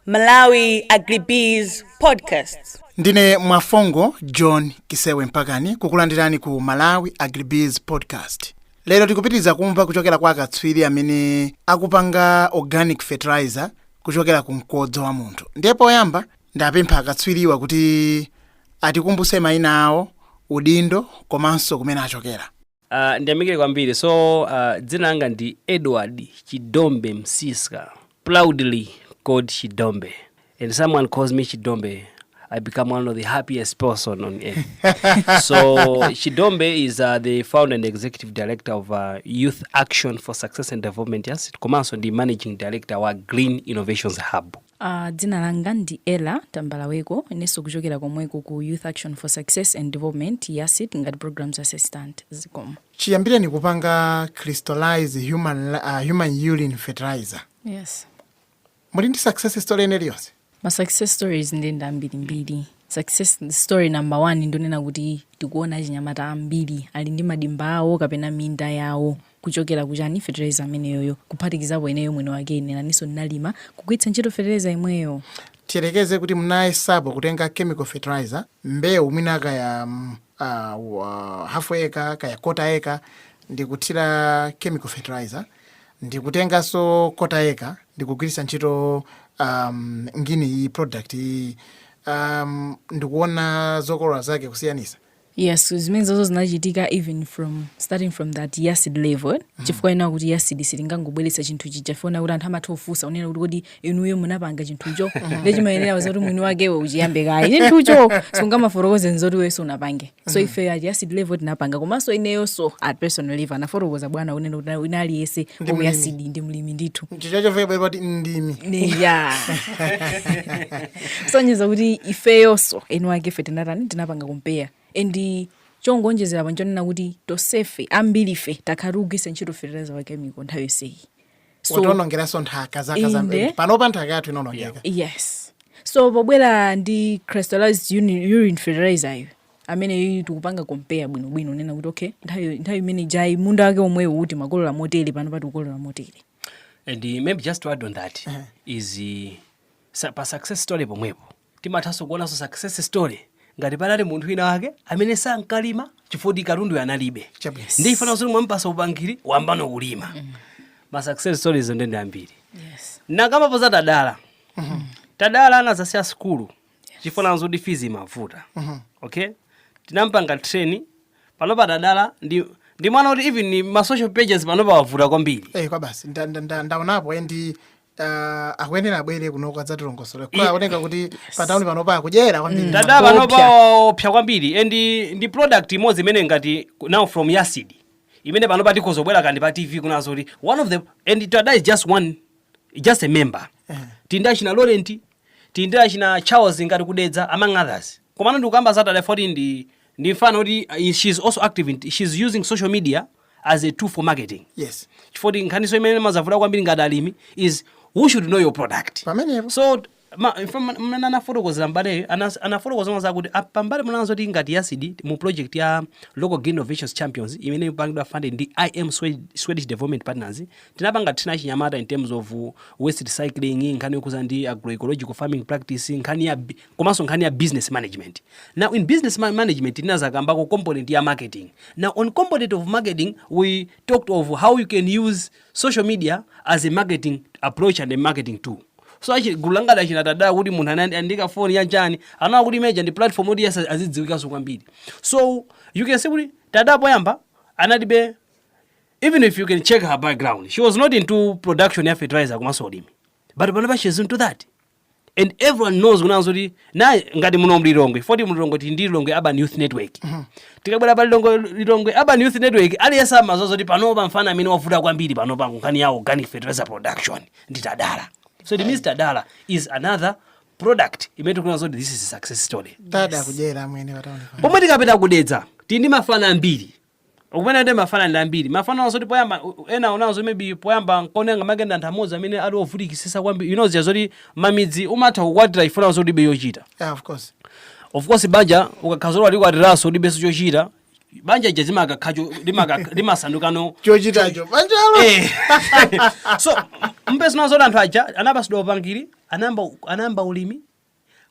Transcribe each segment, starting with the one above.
Malawi Agribiz Podcast. ndine mwafongo john kisewe mpakani kukulandirani ku malawi agribiz podcast lero tikupitiriza kumva kuchokera kwa akatswiri amene akupanga organic fertilizer kuchokera ku mkodzo wa munthu ndiye poyamba ndapempha akatswiriwa kuti atikumbuse mayina awo udindo komanso kumene achokera Uh, ndiyamikire kwambiri so uh, dzina langa ndi edward chidombe msiska proudly called chidombe and someone calls me chidombe i become one of the happiest person on earth so chidombe is uh, the founder and executive director of uh, youth action for success and development yes komanso ndi managing director wa green innovations hub Aaa dzina langa ndi Ella Tambalaweko inenso kuchokera komweko ku Youth Action for Success and Development, YASD, ngati Programs Assistant. Zikomo. Chiyambireni kupanga crystallize human ah, human urine fertilizer. Yes. Muli ndi success story ina iliyonse? Ma success stories nde ndi ambirimbiri. Success story number one ndonena kuti tikuona achinyamata ambiri ali ndi madimba awo kapena minda yawo kuchokera ku chani fetereza ameneyoyo kuphatikizapo ineyo mwiniwake ine nanenso ndinalima, kugwiritsa ntchito fetereza yemweyo. Tiyerekeze kuti munayesapo kutenga chemical fertilizer mbewu mwina kaya uh, wa- half acre kaya quarter acre ndikuthira chemical fertilizer ndikutenganso quarter acre ndikugwiritsa ntchito um, ngini iyi product iyi um, ndikuona zokolola zake kusiyanisa Yes, zimenezozo zinachitika even from starting from that YASD level eh? mm. chifukwa chonena kuti YASD silingangobweretsa chinthu chija fona kuti anthu amatha kufunsa kunena kuti kodi inuyo munapanga chinthucho mm. nde chimayenera kuti mwini wakewe uchiyambe kaye chinthucho sungamafotokoze zoti iwenso unapange so mm. ife at YASD level tinapanga komanso ineyonso at personal level anafotokoza bwana kunena kuti wina aliyense wa ku YASD ndi mlimi ndithu chichachofebaipati ndimi ya kusonyeza kuti ifeyonso eni wake ife tinatani tinapanga compare and chongoonjezera apa nchonena kuti tosefe ambirife takhala tikugwiritsa ntchito fertilizer wa chemical nthawi yonseyi so wationongeranso nthaka zaka Inde. zambiri panopa nthaka yathu inonongeka yes so pobwera ndi crystallized uni- urine fertilizer iyo amene iyi tikupanga compare bwinobwino kunena kuti okay nthawi nthawi imeneijayi munda wake omwewu timakolola motere panopa tikukolola motere And uh, maybe just to add on that is uh, Pa success story pomwepo timathanso kuonanso success story ngati panali munthu wina wake amene sankalima chifukwa kuti katunduyo analibe Chabwino. nde chifukwa zoti mwamupasa upangiri wayambano kulima ma success stories nde ndi ambiri Yes. anakambapo za tadala tadala anazasiya sukulu chifukwa zoti fees imavuta okay tinampanga train panopa tadala ndi ndi mwana kuti even ma social pages panopa wavuta kwambiri Eh, kwa basi nda- nda- nda- ndaonapo eh, ndi ta akuyenera abwere kunoko adzatilongosole Ye- kwa aoneka kuti pa tauni panopa akudyera kwambiri tada Kuopsa. panopa opsa kwambiri and ndi product imodzi imene ngati now from yasidi imene panopa tikhoza kubwera kaya ndi pa tv kunena zoti one of the and tada is just one just a member tindi achina laurent tindi achina charles ngati ku dedza among others komano ndikukamba za tada foti ndi ndi mfana woti uh, she's also active in, she's using social media as a tool for marketing yes chifukwa choti nkhaninso imene imazavuta kwambiri ngati alimi is who should know your product Pamenepo. so ma- in fact, mmene anafotokozera mbaleyo anas- anafotokoza mwanza akuti ah, pambali ponena zoti ngati yasidi mu project ya local green innovations champions imene ikupangidwa funded ndi im Swed- swedish development partners tinapanga train achinyamata in terms of waste recycling nkhani yokhuza ndi agroecological farming practice nkhani ya bi- komanso nkhani ya business management now in business ma- management tinazakambako component ya marketing now on component of marketing we talked of how you can use social media as a marketing approach and a marketing tool so actually gulu langa la achina tadala kuti munthu anandi- andi kafoni ya chani anaona kuti media ndi platform yoti yes azidziwikanso kwambiri so you can see kuti tada poyamba analibe even if you can check her background she was not into production ya fertilizer komanso ulimi but panopa she is into that and everyone knows kunena zoti na ngati muno mlilongwe foti mlilongwe tili ndi lilongwe urban youth network tikabwera pa lilongwe lilongwe urban youth network aliyense amadziwa zoti panopa mfana amene wavuta kwambiri panopa nkhani ya organic fertilizer production ndi tadala so it means tadala is another product imene tikuona zoti this is a success story tada akudyera amwene pa taunipa pomwe tikapita ku dedza tili ndi mafana ambiri Ukumene ndi mafana ndi ambiri. Mafana onena zoti poyamba ena onena zoti maybe poyamba nkone angamake ndi anthu amodzi amene ali ovutikisisa kwambiri. You know zija zoti mamidzi umatha kukwatira chifukwa chonena zoti ulibe chochita. Yeah, of course. Of course banja ukakhala zoti walikwatiraso ulibenso chochita. Banja lija zimakakha cho limakakha limasandukano Chochitacho. Banjalo. Eh. so mupeza kunena zoti anthu aja anapasidwa upangiri anayamba anayamba ulimi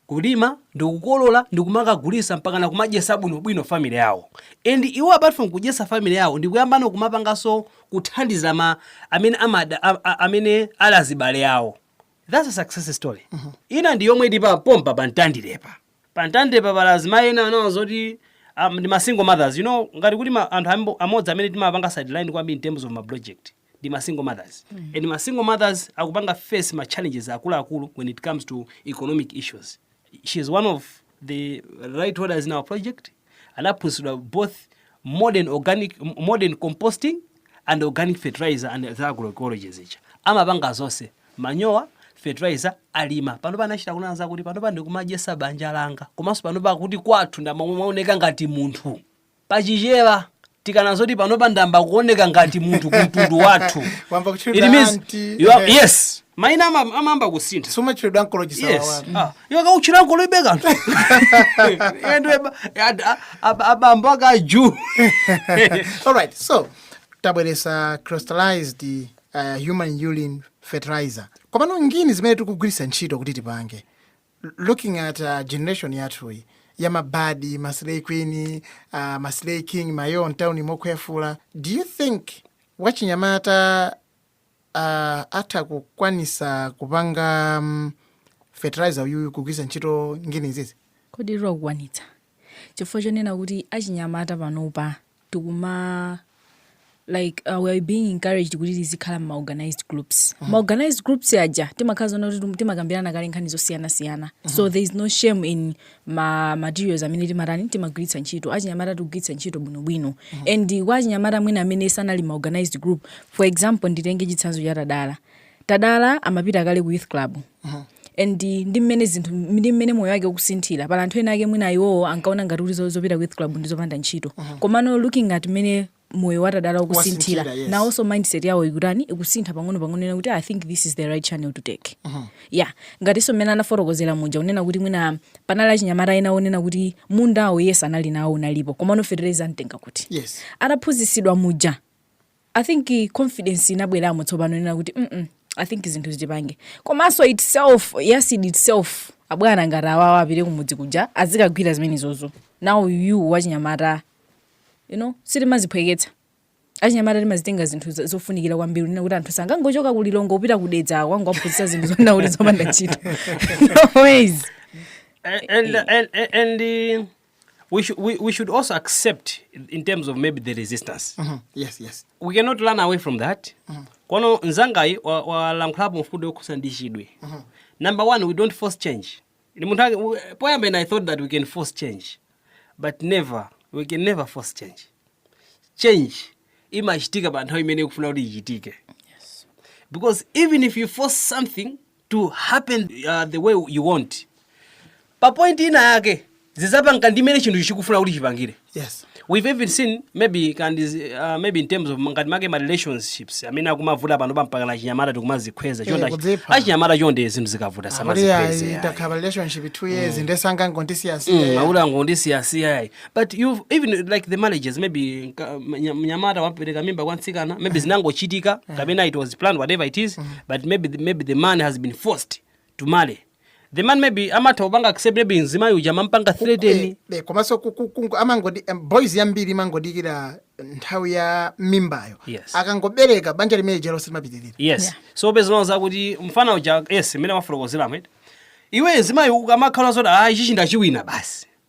kulima ndikukolola ndikumakagulisa mpakana kumadyesa bwino bwino family yawo and iwo apart from kudyesa family yawo ndikuyambano kumapangaso kuthandiza ma amene amada a, a, amene ali azibale awo that's a success story mm -hmm. ina ndi yomwe ili pa pompa pa mtandirepa pa mtandirepa pala azimayi ena onena zoti um, ndi ma single mothers you know ngati kuti ma, anthu ambo- amodzi amene timapanga sideline kwambiri in terms of ma project ndi ma single mothers and ma single mothers akupanga face ma challenges akuluakulu when it comes to economic issues she is one of the right holders in our project anaphunzitsidwa both modern organic m- modern composting and organic fertilizer and the agroecology zija amapanga zonse manyowa fertilizer alima panopa anachita kunena zakuti panopa ndikumadyesa banja langa komanso panopa akuti kwathu ndimaoneka ngati munthu pa Chichewa tikanena zoti panopa ndayamba kuoneka ngati munthu kumtundu wathu Wayamba kutchulidwa It means auntie, you are- eh. yes maina ama- amayamba kusintha sumatchulidwa nkolo yes chisawawa Ah, iwe kauchira nkoloibe kanthu ndiwe abambo ake aju alright so tabweretsa crystallized uh, human urine fertilizer komano ngini zimene tikugwiritsa ntchito kuti tipange looking at uh, generation yathuyi ya mabadi maslay queen uh, maslay king mayo mtauni mokhwefula do you think wachinyamata uh, atha kukwanisa kupanga um, fertilizer uyuyu kugwiritsa ntchito ngini izizi kodi iwo akukwanitsa chifukwa chonena kuti achinyamata panopa tikuma like uh, we are being encouraged kuti tizikhala ma organized groups mm. ma organized groups aja timakhala zonena kuti timakambirana kale nkhani zosiyanasiyana mm -hmm. so there is no shame in ma materials amene timatani timagwiritsa ntchito achinyamata tikugwiritsa ntchito bwinobwino mm -hmm. and kwa achinyamata mwina amene sanali mma organized group for example nditenge chitsanzo cha tadala tadala amapita kale ku youth club and ndi mmene zinthu ndi mmene moyo wake ukusinthira pali anthu ena ake mwina iwowo ankaona ngati kuti zo- zopita ku youth club ndi zopanda ntchito komano looking at mmene moyo wa Tadala ukusinthira Wasinthira, yes. nawonso mindset yawo ikutani ikusintha pang'ono pang'ono kunena kuti i think this is the right channel to take yeah ngatinso mmene anafotokozera muja unena kuti mwina panali achinyamata ena onena kuti mundawo yes anali nawo unalipo komano fetereza amutenga kuti yes ataphunzitsidwa muja I think confidence inabweramo tsopano kunena kuti mm I think zinthu zichipange komanso itself YASD itself abwana ngati awawa apite kumudzi kuja azikagwira zimenezozo now you wachinyamata you know sitimaziphweketsa achinyamata timazitenga zinthu za- zofunikira kwambiri kunena kuti anthu sangangochoka ku Lilongwe kupita ku Dedza kukangowaphunzitsa zinthu zonena kuti zopanda ntchito no ways and, and, and, and uh, we, should, we, we should also accept in terms of maybe the resistance mm -hmm. yes, yes. we cannot run away from that mm -hmm. kono nzangayi walankhulapo wa mfundo yokhusa ndi chidwe mm -hmm. number one we don't force change ni munthu poyamba ine i thought that we can force change but never we can never force change change imachitika pa nthawi imene ikufuna kuti ichitike yes. because even if you force something to happen the way you want pa point ina yake zizapanga ndi mmene chinthu chikufuna kuti chipangire yes we've even seen maybe and uh, maybe in terms of ngati make ma relationships amene akumavuta pano mpakana achinyamata tikumazikhweza chonde kudzipha. achinyamata chonde zinthu zikavuta akuti samazikhweze ayi, takhala relationship 2 years nde sangangondisiyasiya sangangondisiyasiya ayi but you've even like the marriages maybe nka- mnya- mnyamata wapereka mimba kwa mtsikana maybe zinangochitika kapena it was planned whatever it is but maybe the, maybe the man has been forced to marry the man maybe amatha kupanga accept maybe mzimayi uja amampanga threaten Eh, eh, komanso ku- ku- ku- amangodi em, boys yambiri imangodikira nthawi ya mimbayo Yes. akangobereka banja limene lijalo silimapitirira yes Yeah. so mpeza zakuti mfana uja yes mmene wafotokozera amene iwe mzimayi ukamakhala zoti ah ichichi ndachiwina basi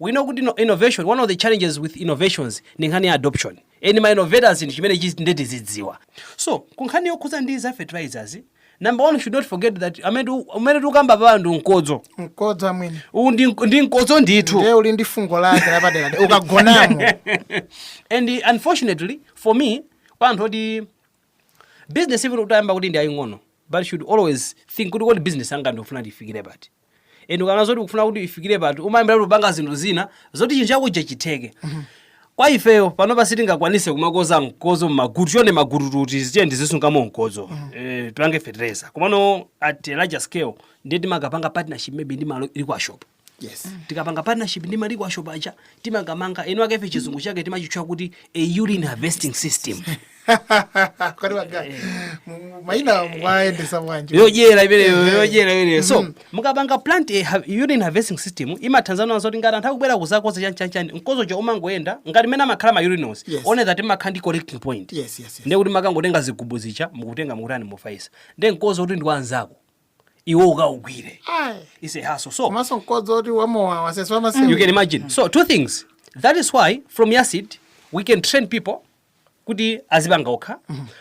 We know kuti no innovation, one of the challenges with innovations ndi nkhani ya adoption. And ma innovators ndi chimene chis- nde tizidziwa. So, ku nkhani yokhudza ndi za fertilizers, number one, we should not forget that amene tu- umene tikukamba pano ndi mkodzo. mkodzo amwene Uwu ndi mk- ndi mkodzo ndithu. ndiye uli ndi fungo lake lapadera ukagonamo and uh, unfortunately for me pa chinthu choti business even utayamba kuti ndi yaying'ono but you should always think kuti kodi business yanga ndikufuna ifikire pati and ukaona zoti ukufuna kuti ifikire pati umayambira kumapanga zinthu zina zoti chinthu chakuja chitheke kwa ifeyo panopa sitingakwanise kumakodza mkodzo mmagubu chonde magubu kuti zichani tizisungamo mkodzo eh, tipange fetereza komano at a larger scale ndiye timakapanga partnership maybe ndi ma liquor shop yes tikapanga partnership ndi ma liquor shop aja timakamanga ena ake ife chizungu chake timachitcha kuti a urine harvesting system kwani waga mu- maina mwaendesa bwanji yodyera imeneyo yodyera imeneyo so mukapanga plant a ha- urine harvesting system imathandiza nazo kuti ngati anthu akubwera kuzakodza chanchanchan mkodzo uja umangoyenda ngati mmene amakhala ma urinals Yes. one that imakhala ndi collecting point yes yes yes ndiye kuti mumakangotenga zigubu zija mukutenga mukutani mukufaisa ndiye mkodzo oti ndi wa anzako iwe ukaugwire Aye. it's a hassle so komanso mkodzo oti wamowa wasasa you wamasiku can imagine so two things that is why from YASD we can train people kuti azipanga okha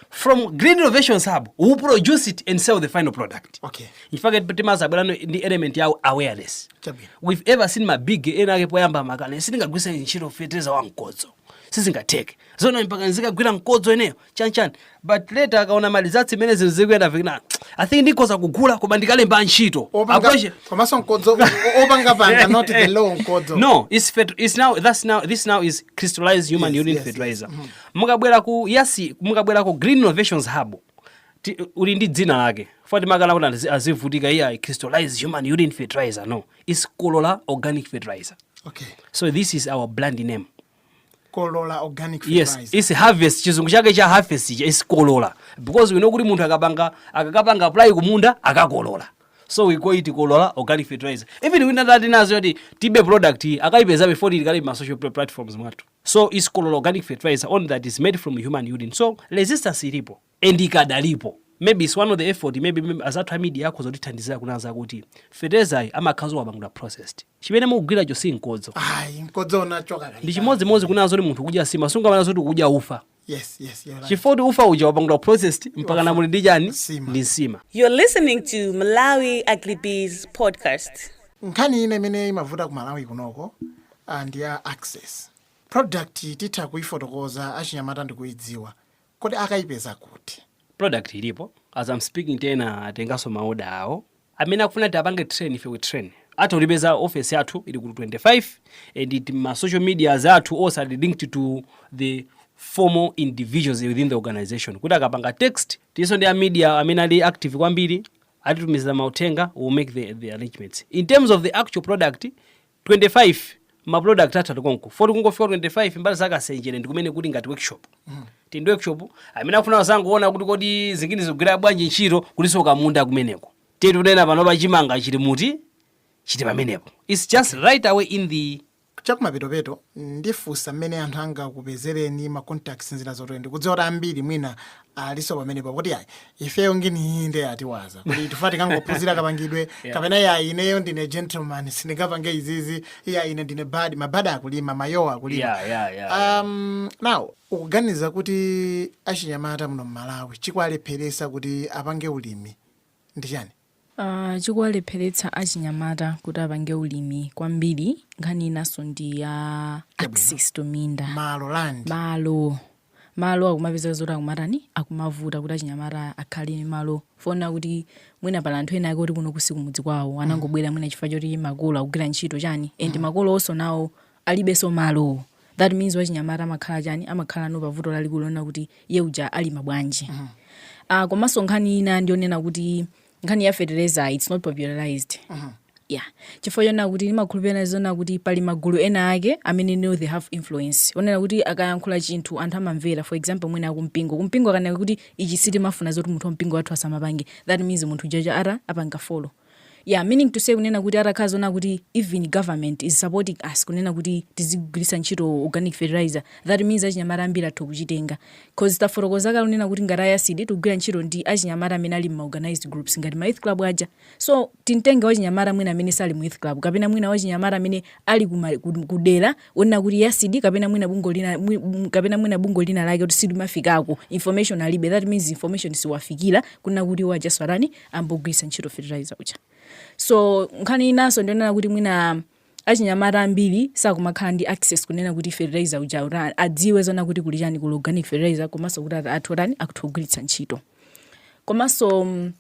from green innovation hub we produce it and sell the final product Okay. nchifake timazabweranso ndi element ya awareness Chabwino. we've ever seen ma big ena ake poyamba amakana sindingagwiritse ntchito fetereza wa mkodzo sizingatheke zona mpaka nzikagwira mkodzo ineyo chanichani but later akaona ma results mmene zinthu zikuyenda vikina i think ndikhoza kugula koma ndikalemba ntchito Opanga- Approach- komanso mkodzo o- opanga panga not the raw mkodzo no it's fet it's now that's now this now is crystallized human Yes, urine yes, yes. fertilizer mukabwera ku YASD mukabwera ku green innovations hub ti- uli ndi dzina lake foti timakana kuti azi- azivutika iyayi crystallized human urine fertilizer no it's kolola organic fertilizer okay so this is our brand name kolola organic yes fertilizer. its harvest chizungu chake cha harvest its kolola because we know kuti munthu akapanga akakapanga apply kumunda akakolola so we call it kolola organic fertilizer even wina atati onatu yoti tiibe product iyi akayipeza before ili kale mma social pla- platforms mwathu so its kolola organic fertilizer only that is made from human urine so resistance ilipo and ikadalipo may be its one of the effort may be azathu a media akhoza kutithandizira kunena za kuti feterezayu amakhala zoti wapangidwa processed chimene mukugwiracho si mkodzo ayi mkodzo unachoka kale ndi chimodzi modzi kunena zoti munthu kudya nsima sungamanene zoti kudya ufa yes yes you're right chifukwa kuti ufa uja wapangidwa processed mpaka pano muli ndi chani Nsima. ndi nsima You're listening to Malawi Agribees podcast. nkhani ina imene imavuta ku malawi kunoko ah, ndi ya access product titha kuyifotokoza achinyamata nkuyidziwa Kodi akaipeza kuti? product ilipo as am speaking ti ena atenganso ma order awo amene akufuna ti apange train ife we train atha kutipeza office yathu ili ku 25 and it ma social medias athu onse ali linked to the formal individuals within the organization kuti akapanga text tilinso ndi a media amene ali active kwambiri atitumiza mauthenga we will make the, the arrangements in terms of the actual product 25 ma product athu ati konko foti kungofika 25 mbali za kasenjere ndi kumene kuli ngati workshop tili ndi workshop amene akufuna azangoona kuti kodi zinginizi zikugwira bwanji ntchito kulinso kamunda kumeneko ti tikunena panopa chimanga chili muti chili pamenepo its just right away in the chakumapetopeto ndifunsa mmene anthu angakupezereni ma contacts nzira zotero ndikudziwa kuti ambiri mwina aliso pamenepo kuti ayi ifeyo nginiyi nde atiwaza kuti tifuna tikangophunzira kapangidwe kapena ya ineyo ndine gentleman sindingapange izizi ya ine ndine bad mabada akulima mayowa akulima Yeah, yeah, yeah, yeah. um, now ukuganiza kuti achinyamata muno mmalawi chikuwalepheretsa kuti apange ulimi ndi chani Chikuwalepheretsa achinyamata kuti apange ulimi kwambiri nkhani inanso ndi ya access to minda, malo land, malo, malo akumapezeka zoti akumatani akumavuta kuti achinyamata akhale ndi malo fonena kuti mwina pali anthu ena ake oti kunoku sikumudzi kwawo anangobwera mwina chifukwa choti makolo akugwira ntchito chani and makolonso nawo alibenso malo that means wachinyamata amakhala chani amakhalano pa vuto lalikulu lonena kuti iye uja alima bwanji Ah, komanso nkhani ina ndionena kuti nkhani ya fertilizer its not popularized yeah chifukwa chonena kuti ndimakhulupirira zonena kuti pali magulu ena ake amene know they have influence onena kuti akayankhula chinthu anthu amamvera for example mwina akumpingo kumpingo akanena kuti ichi sitimafuna zoti munthu wampingo wathu asamapange that means munthu uja aja apanga follow Yeah, meaning to say kunena kuti atakhala zona kuti even government is supporting us kunena kuti tizigwiritsa ntchito organic fertilizer that means achinyamata ambiri atha kuchitenga cause tafotokoza kale kunena kuti ngati ayasidi tikugwira ntchito ndi achinyamata amene ali ma organized groups ngati ma youth club aja so titenge wachinyamata mwina amene sali mu youth club kapena mwina wachinyamata amene ali kuma- ku- kudera onena kuti yasidi kapena mwina bungwe lina mwi- m- kapena mwina bungwe lina lake kuti silimafikako information alibe that means information siwafikira kunena kuti iwo aja azatani ayambe kugwiritsa ntchito fertilizer uja so nkhani inanso ndionena kuti mwina achinyamata ambiri sakumakhala ndi access kunena kuti fertilizer uja uta- adziwe zona kuti kuli chani kuli organic fertilizer komanso kuti ati- atha atani akutha kugwiritsa ntchito komanso mm,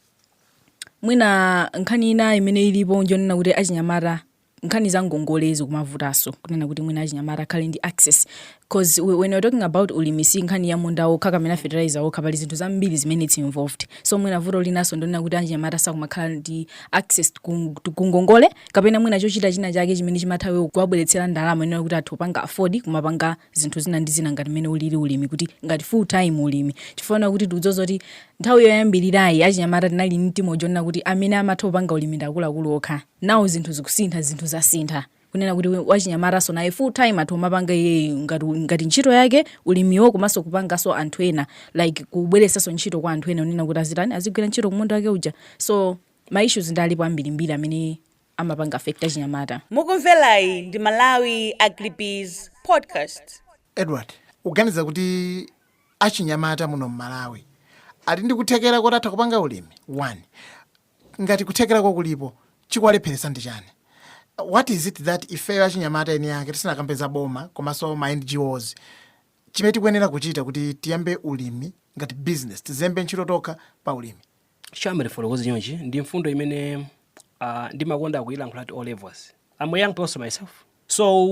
mwina nkhani ina imene ilipo njonena kuti achinyamata nkhani za ngongole zikumavutanso kunena kuti mwina achinyamata akhale ndi access cause we- when you're talking about ulimi si nkhani ya munda wokha kapena fertilizer wokha pali zinthu zambiri zimene its involved so mwina vuto linanso ndonena kuti achinyamata sakumakhala ndi access ku- ku- ku ngongole kapena mwina chochita china chake chimene chimatha kuwabweretsera ndalama unena kuti atha kupanga afford kumapanga zinthu zina ndi zina ngati mmene ulili ulimi kuti ngati full time ulimi chifukwa kuti tikudziwa kuti nthawi yoyambirirayi achinyamata tinali ndi mtima wonena kuti amene amatha kupanga ulimi ndi akuluakulu okha now zinthu zikusintha zinthu zasintha kunena kuti wachinyamatanso naye full time atha kumapanga iyeyi ngati, ngati ntchito yake ulimiwo komanso kupanganso anthu ena like kubweretsanso ntchito kwa anthu ena unena kuti azitani azigwira ntchito kumunda wake uja so ma issues nde alipo ambirimbiri amene amapanga affect achinyamata Mukumvelayi ndi Malawi Agribiz Podcast. edward uganiza kuti achinyamata muno mmalawi ali ndi kuthekera koti atha kupanga ulimi one Ngati kuthekerako kulipo, chikuwalepheretsa ndi chani? What is it that ifeyo achinyamata eni ake tisanakambe za boma komaso ma NGOs chimene tikuyenera kuchita kuti tiyambe ulimi ngati business, tizilembe ntchito tokha pa ulimi? Shame tifotokoze chonchi ndi mfundo imene aah ndimakonda kuilankhula at all levels, am a young person myself so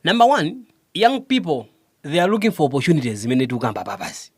number one young people they are looking for opportunities zimene tikukamba apapazi,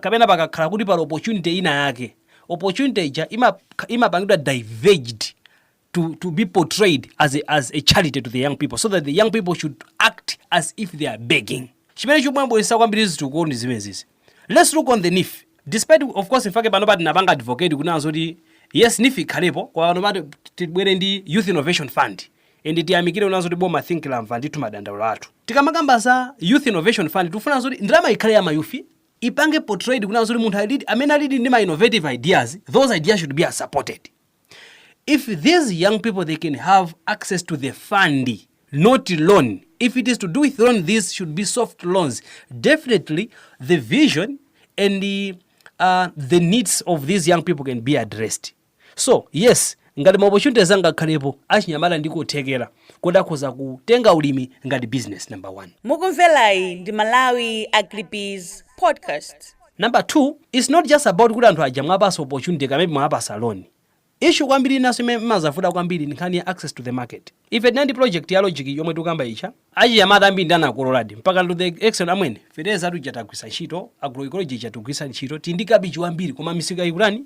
kapena pakakhala kuti pali opportunity ina yake, opportunity ija imakha, imapangidwa diverged to, to be portrayed as a, as a charity to the young people so that the young people should act as if they are begging. Chimene chikumabweza kwambiri zitukuko ndi zimenezi. Let's look on the NEEF. Despite of course in fact panopa tinapanga advocate kunena zoti yes NEEF ikhalepo koma panopa tibwere ndi Youth Innovation Fund. and tiyamikire kunena zoti boma think lamva ndithu madandaulo athu tikamakamba za youth innovation fund tikufuna zoti ndalama ikhale ya ma youth ipange portrayed kunena zoti munthu alidi amene alidi ndi ma innovative ideas those ideas should be supported if these young people they can have access to the fund not loan if it is to do with loan these should be soft loans definitely the vision and the, uh, the needs of these young people can be addressed So yes ngati ma opportunities angakhalepo achinyamata ndi kuthekera koti akhoza kutenga ulimi ngati business number one. Mukumvelayi ndi Malawi Agribiz podcast. Number two its not just about kuti anthu aja mwapasa opportunity kaya maybe mwawapasa loan. Issue kwambiri inanso imene imazavuta kwambiri ndi nkhani ya access to the market. Ife tinali ndi project ya logic yomwe tikukamba ija achinyamata ambiri ndi anakololadi mpaka to the extent amwene fetereza tuja tagwiritsa ntchito agroecology ija tikugwiritsa ntchito tili ndi kabichi wambiri koma misika ikutani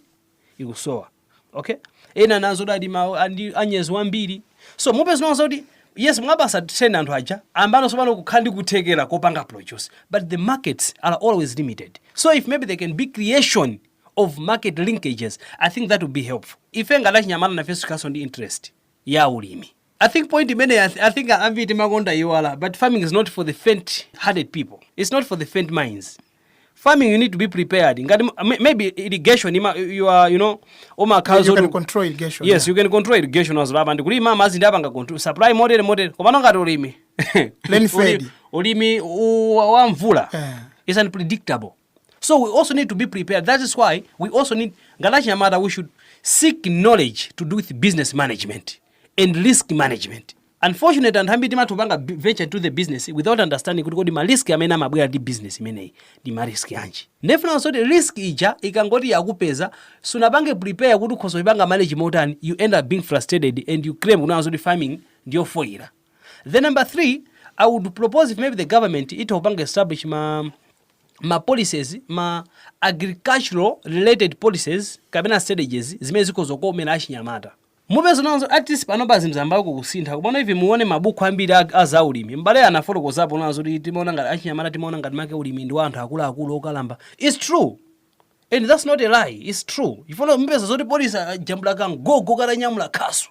ikusowa okay ena anazaladi mawu andi anyezi wambiri so mupeza kunena zoti yes mwapasa training anthu aja ayambano sopano kukhala ndi kuthekera kopanga produce but the markets are always limited so if maybe there can be creation of market linkages i think that would be helpful ife ngati achinyamata nafenso tikhalanso ndi interest ya ulimi I think point imeneyi I, th I think ambiri timakonda iwala but farming is not for the faint hearted people it's not for the faint minds farming you need to be prepared ngati m- may- maybe irrigation ima, you are you know umakhala You can zoti- control irrigation, yes yeah. you can control irrigation as well and kulima amazi ndi apanga control supply motere motere komano ngati ulimi Rain fed. Uli- ulimi u- wa mvula Eh. is unpredictable so we also need to be prepared that is why we also need ngati achinyamata we should seek knowledge to do with business management and risk management unfortunately anthu ambiri timatha kupanga b- venture to the business without understanding kuti kodi marisk amene amabwera ndi business imeneyi ndi marisk yanji ndiye mupezanso kuti risk ija ikangoti yakupeza sunapange prepare kuti ukhoza kuipanga manage motani you end up being frustrated and you claim kunena zoti farming ndiyofoyira Then number three, I would propose if maybe the government itha kupanga establish ma ma policies ma agricultural related policies kapena strategies zimene zikhoza kukomera achinyamata mupeza nazo at least panopa zinayambako kusintha komano even muone mabuku ambiri a- a za ulimi m'bale anafotokozapo kunena zoti timaona ngati achinyamata timaona ngati make ulimi ndi wa anthu akuluakulu okalamba its true and that's not a lie its true chifukwa mupeza zoti poti ajambula kagogo katanyamula khasu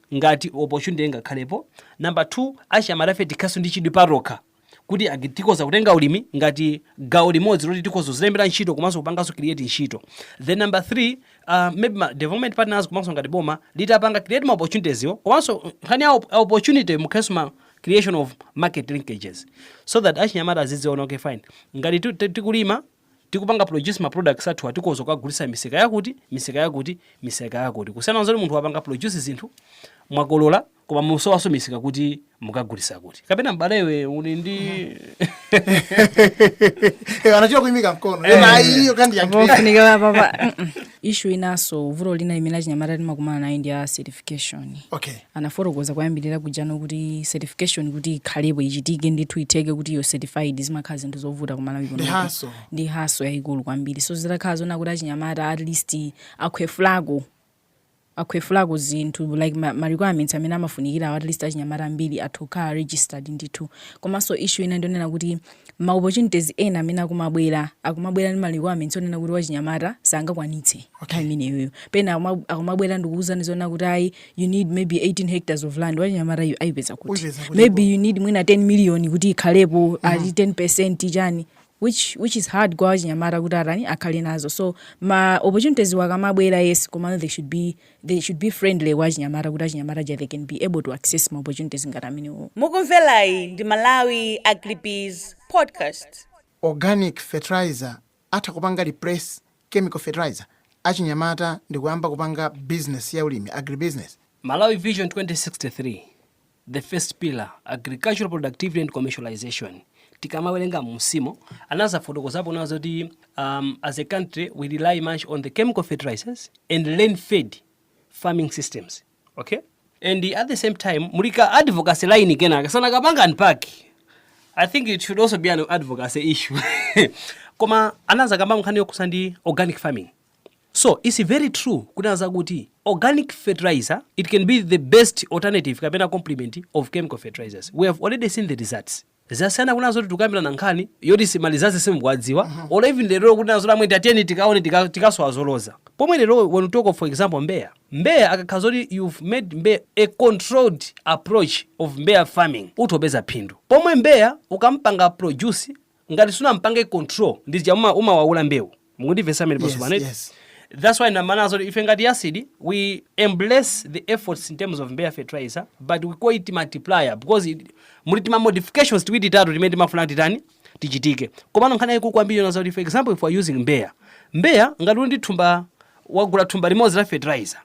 ngati opportunity ingakhalepo. Number two, achinyamatafe tikhalenso ndi chidwi patokha kuti agi- tikhoza kutenga ulimi ngati gawo limodzi loti tikhoza kuzilembera ntchito komanso kupanganso create ntchito. Then number three, uh, maybe ma development partners komanso ngati boma litapanga create ma opportunities yo komanso uh, nkhani ya op- ya opportunity mukhalenso ma creation of market linkages so that achinyamata azidziona okay fine ngati tu- tu- tikulima tikupanga produce ma products athuwa tikhoza kukagulitsa misika yakuti, misika yakuti, misika yakuti kusiyana nzoti munthu wapanga produce zinthu mwakolola koma musowanso misika kuti mukagulitsa kuti kapena m'bale iwe uli ndi Eh, anachita kuimika mkono Eh, ayi, iyo ikadali yangu. Chofunika apapa. issue inanso vuto lina limene achinyamata timakumana nayo ndi ya certification okay anafotokoza kuyambirira kujano kuti certification kuti ikhalepo ichitike ndithu itheke kuti you're certified zimakhala zinthu zovuta ku Malawi Ndi hassle. ndi hassle yayikulu kwambiri so zitakhala zona kuti achinyamata at least akhwefulako akhwefulako zinthu like ma, ma requirements amene amafunikirawo at least achinyamata ambiri atha kukhala registered ndithu komanso issue ina ndionena kuti ma opportunities ena amene akumabwera akumabwera ndi ma requirements onena kuti wachinyamata sangakwanitse okay. nthawi imeneyoyo pena akuma- akumabwera ndikuwuzani zoona kuti ayi you need maybe 18 hectares of land wachinyamata yu ayipeza kuti Ayipeza kuti maybe you need mwina 10 million kuti ikhalepo ati 10 percent chani which which is hard kwa achinyamata kuti atani akhale nazo so ma opportunities wo akamabwera yes komano they should be they should be friendly kwa achinyamata kuti achinyamata ja they can be able to access ma opportunities ngati amenewo Mukumverayi ndi Malawi Agribiz Podcast. organic fertilizer atha kupanga replace chemical fertilizer achinyamata ndikuyamba kupanga business ya ulimi agribusiness Malawi Vision 2063. the first pillar agricultural productivity and commercialization tikamawerenga mmusimo anazafotokozapo kunena zoti um, as a country we rely much on the chemical fertilizers and rain fed farming systems okay and at the same time muli ka advocacy line kenaka sanakapange unpack i think it should also be an advocacy issue koma anazakamba nkhani yokhusa ndi organic farming So its very true kunena za kuti organic fertilizer it can be the best alternative kapena complement of chemical fertilizers. We have already seen the results. Zasiyana kunena zoti tikukambirana nkhani yoti ma results sitikuwadziwa or even lero kunena zoti amwene tatiyeni tikaone tika- tikasowa zoloza. Pomwe lero when we talk of for example Mbeya, Mbeya akakhala zoti you've made Mbeya a controlled approach of Mbeya farming utha kupeza phindu. Pomwe Mbeya ukaampanga produce ngati sunampange control ndi zija uma umawaula mbewu mukundimvetsa amwene yes, pano yes. that's why ndimanena zoti ife ngati YASD we embrace the efforts in terms of mbeya fertilizer but we call it multiplier because it, muli tima modifications tiwiri titatu timene timafuna titani tichitike komano nkhani yayikulu kwambiri yonena zakuti for example if we are using mbeya mbeya ngati uli ndi thumba wagula thumba limodzi la fertilizer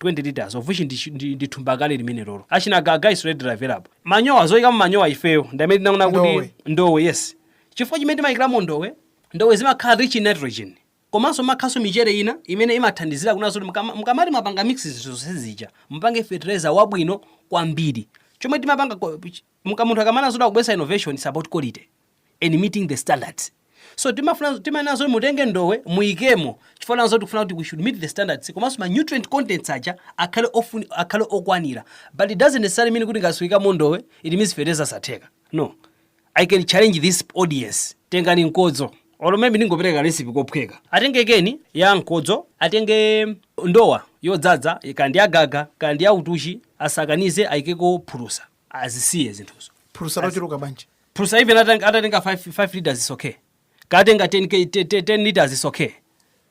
20 litres of which ndi ndi ndi thumba kale limenelolo achina gaga is readily available manyowa zoikamo manyowa ifeyo ndi amene tinaona kuti Ndowe. ndowe yes chifukwa chimene timayikiramo ndowe ndowe zimakhala rich in nitrogen komanso mumakhalanso michere ina imene imathandizira kunena zoti mukama- mukamati mwapanga mix zinthu zonse zija mupange fertilizer wabwino kwambiri chomwe timapanga ko- ch- muka munthu akamanena zoti akubweretsa innovation is about quality and meeting the standards so timafuna timanena zoti mutenge ndowe muyikemo chifukwa chonena zoti tikufuna kuti we should meet the standards komanso ma nutrient contents aja akhale ofuni akhale okwanira but it doesn't necessarily mean kuti ngati suikamo ndowe it means fertilizer satheka no i can challenge this audience tengani mkodzo olo maybe ndingopereka recipe kophweka atenge keni ya mkodzo atenge ndowa yodzadza kaya ndi ya gaga kaya ndi ya utuchi asakanize ayikeko phulusa azisiye zinthuzo phulusa lochuluka bwanji phulusa even atang- atatenga 5 liters is okay kaya atenga 10 k- te- te- 10 liters is okay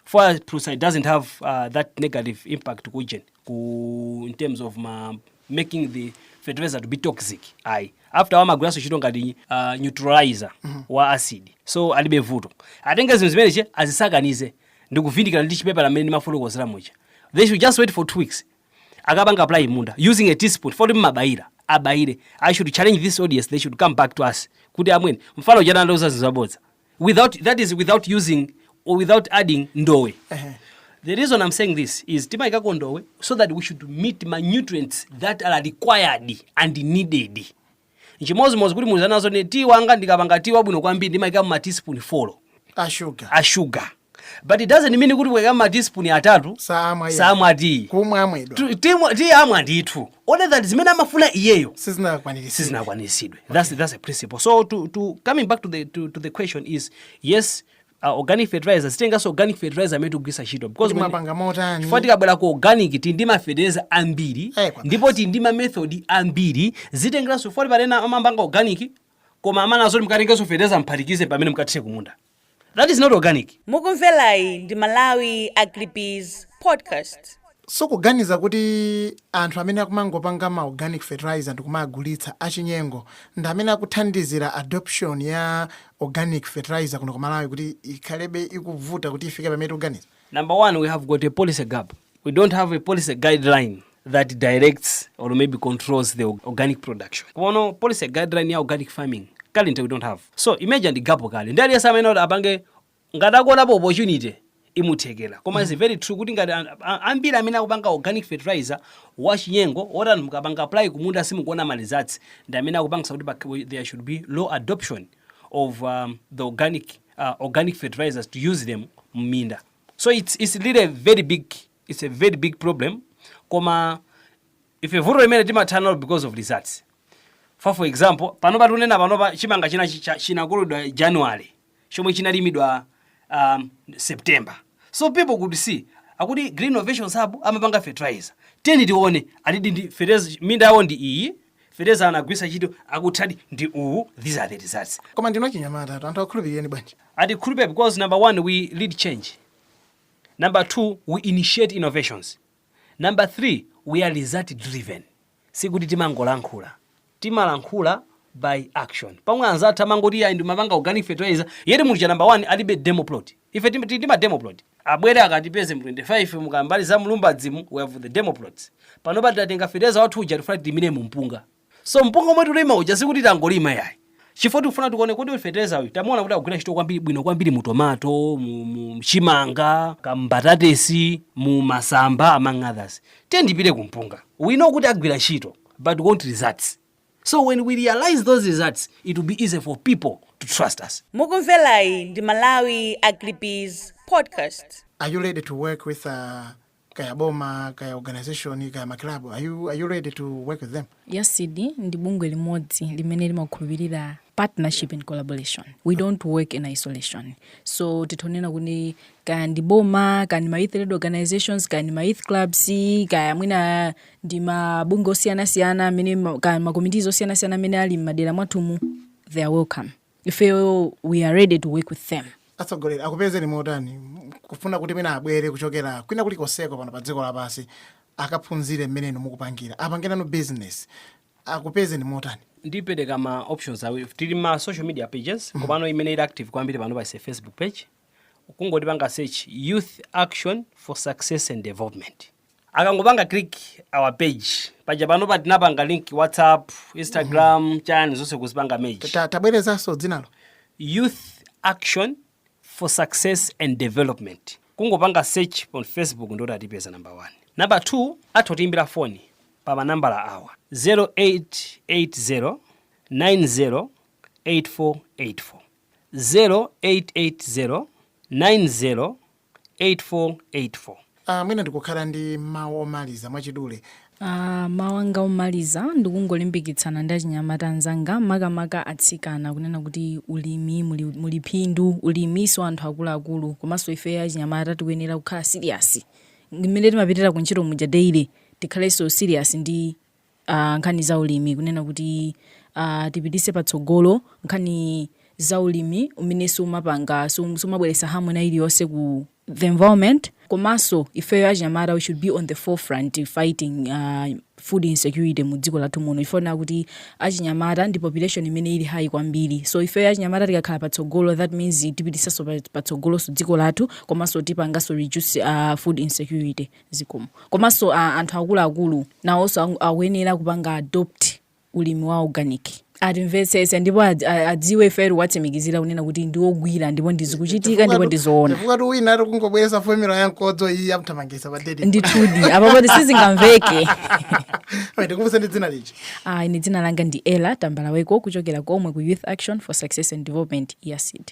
for phulusa it doesn't have uh, that negative impact ku ujeni ku in terms of ma making the fertilizer to be toxic ayi after all amagwiranso ntchito ngati uh, neutralizer wa acid so alibe vuto atenge zinthu zimeneche azisakanize ndikuvindikira ndi chipepala mmene ndimafotokozera muja they should just wait for two weeks akapanga apply munda using a teaspoon foti mmabayira abayire i should challenge this audience they should come back to us kuti amwene mfana uja anandiuza zinthu zabodza without that is without using or without adding ndowe the reason i'm saying this is timayikako ndowe so that we should meet my nutrients that are required and needed Nchimodzimodzi kuti muzanena zoti ine tiyi wanga ndikapanga tiyi wabwino kwambiri ndimaikamo ma teaspoon folo a sugar a sugar but it doesn't mean kuti mukaikamo ma teaspoon atatu saamwa iye. saamwa tiyi kumwa amwedwa Tu- timu- tiyi amwa ndithu only that zimene amafuna iyeyo sizinakwaniritsi sizinakwaniritsidwe that's, that's a principle so to, to coming back to the, to, to the question is yes a organic fertilizer zitengeranso organic fertilizer amene tikugwiritsa ntchito because Kuti when- mwapanga motani? chifukwa tikabwera ku organic tili ndi mafertilizer ambiri Eh, kwabasi. ndipo tili ndi mamethod ambiri zitengeranso chifukwa pali ena amapanga organic koma amanena zoti mukatengenso fertilizer mphatikize pamene mukathire kumunda that is not organic mukumverayi ndi malawi agribiz podcast So mukuganiza kuti anthu amene akumangopanga ma organic fertilizer ndikumaagulitsa, achinyengo, ndi amene akuthandizira adoption ya organic fertilizer kuno ku Malawi kuti ikhalebe ikuvuta kuti ifike pamene tikuganiza? Number one, we have got a policy gap. We don't have a policy guideline that directs or maybe controls the organic production. Panopo policy guideline ya organic farming currently we don't have. So imagine ndi gap kale. Ndi aliyense amene ati apange ngati akuonapo opportunity imamuthekera koma it's very true kuti ngati an- a- ambiri amene akupanga organic fertilizer wachinyengo woti anthu mukapanga apply kumunda simukuona ma results ndi amene akupangitsa kuti pak- there should be low adoption of um, the organic uh, organic fertilizers to use them m'minda so it's, it's really a very big it's a very big problem koma Ife vuto limeneli timathana nalo because of results far for example panopa tikunena panopa chimanga china chinakololedwa January chomwe chinalimidwa um, September so people could see kuti Green Innovations Hub amapanga fertilizer tiyeni tione alidi ndi fertilizer minda yawo ndi iyi fertilizer anagwiritsa ntchito akutiyo ndi uwu these are the results koma ndinu achinyamata anthu akukhulupirireni bwanji atikhulupirire because number one we lead change number two we initiate innovations Number 3, we are result driven. Sikuti timangolankhula. Timalankhula by action. Pomwe anzathu amangoti iyayi ndimapanga organic fertilizer, yet munthu uja number 1 alibe demo plot. Ife tili ndi ma demo plot. Abwere akatipeze mu 25 mu Kambali za Mlumbadzimu, we have the demo plots. Panopa tatenga fertilizer wathu uja tikufuna tilimire mu mpunga. So mpunga omwe tulima uja sikuti tangolima yayi. Chifukwa tikufuna tikuone kuti uyu fetereza uyu tamuona kuti akugwira ntchito kwambiri bwino kwambiri mu tomato, mu, mu chimanga, kaya mbatatesi, mu masamba among others. Tiyeni tipite ku mpunga. We know kuti agwira ntchito but we want results. So when we realize those results, it will be easy for people to trust us. Mukumverayi ndi Malawi Agribiz Podcast. Are you ready to work with uh, kaya boma kaya organization kaya maclub are you, are you ready to work with them yasd ndi bungwe limodzi limene limakhulupirira partnership and collaboration we don't work in isolation so titha kunena kuti kaya ndi boma kaya ndi ma youth led organizations kaya ndi ma youth clubs kaya mwina ndi mabungwe osiyanasiyana amene ma- kaya makomitizi osiyanasiyana amene ali m'madera mwathumu they are welcome ifeyo we are ready to work with them atsogoleri akupezeni motani kufuna kuti mwina abwere kuchokera kwina kulikonseko pano pa dziko lapansi akaphunzire mmene inu mukupangira apangenano business akupezeni motani ndipereka ma options awiri tili ma social media pages komano imene ili active kwambiri panopa ndi facebook page kungotipanga search youth action for success and development akangopanga click our page paja panopa tinapanga link whatsapp instagram mm -hmm. chani zonse kuzipanga merge tabwerezanso dzinalo youth action for success and development kungopanga search on facebook ndiye kuti atipeza number one number two atha kutiimbira foni pa manambala awa 0880 90 8484 0880 90 8484. Aaa mwina ndikukhala ndi mau omaliza mwachidule. Aaa mau anga omaliza ndikungolimbikitsana ndi achinyamata anzanga makamaka atsikana kunena kuti ulimi muli muli phindu ulimi si wa anthu akuluakulu komanso ifeyo achinyamata tikuyenera kukhala serious ndi mmene timapitira kuntchito muja daily tikhalenso serious ndi nkhani za ulimi kunena kuti tipitise patsogolo nkhani za ulimi umene sumapanga sumabweretsa harm ina iliyonse ku the environment komanso ifeyo achinyamata we should be on the forefront fighting uh, food insecurity mu dziko lathu muno chifukwa chonena kuti achinyamata ndi population imene ili high kwambiri so ifeyo achinyamata tikakhala patsogolo that means tipitisanso patsogoloso dziko lathu komanso tipanganso reduce uh, food insecurity zikomo. Komanso a anthu akuluakulu nawonso ang akuyenera kupanga adopt ulimi wa organic. atimvetsetse ndipo ad- a- adziwe ife tikuwatsimikizira kunena kuti ndi ogwira ndipo ndi zikuchitika ndipo ndi zoona chifukwatu wina ati kungobweresa fomula ya mkodzo iyi yamthamangisa pa date ndithudi apa poti sizingamveke ndikumbutseni dzina lija Ah, ine dzina langa ndi ellah tambalaweko kuchokera komwe ku youth action for success and development yasd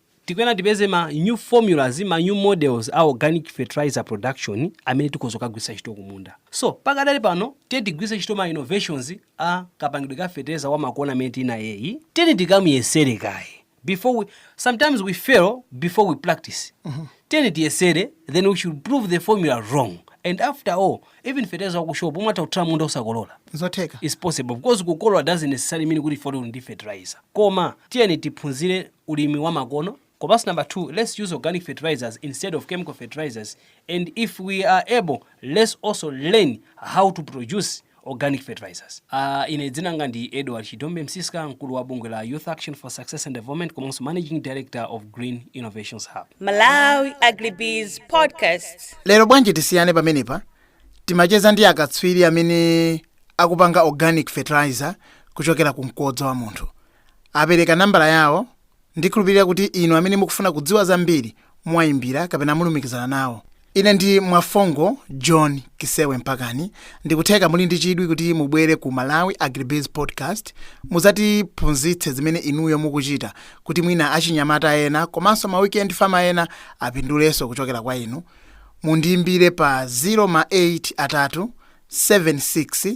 Tikuyenera tipeze ma new formulas, ma new models a organic fertilizer production amene tikhoza kukagwiritsa ntchito kumunda. So, pakadali pano, tiyeni tigwiritse ntchito ma innovations a kapangidwe ka fetereza wamakono amene tili nayeyu. Tiyeni tikamuyesere kaye before we, sometimes we fail before we practice. Tiyeni tiyesere then we should prove the formula wrong and after all, even fetereza wa ku shop umatha kuthira m'munda osakolola. Nzotheka. It's possible because kukolola doesn't necessarily mean kuti chifukwa kuti uli ndi fertilizer. Koma tiyeni tiphunzire ulimi wa makono komanso number 2 let's use organic fertilizers instead of chemical fertilizers and if we are able let's also learn how to produce organic fertilizers uh, ine dzinanga ndi edward chidombe msiska mkulu wa bungwe la youth action for success and development komanso managing director of green innovations hub Malawi Agribiz Podcast. lero bwanji tisiyane pamenepa timacheza ndi akatswiri amene akupanga organic fertilizer kuchokera ku mkodzo wa munthu apereka nambala yawo, ndikhulupirira kuti inu amene mukufuna kudziwa zambiri muwayimbira kapena mulumikizana nawo. Ine ndi Mwafongo John Kisewe Mpakani, ndikutheka muli ndi chidwi kuti mubwere ku Malawi Agribiz Podcast muzatiphunzitse zimene inuyo mukuchita kuti mwina achinyamata ena komanso ma weekend farmer ena apindulenso kuchokera kwa inu. Mundiyimbire pa 0 ma 8 atatu 76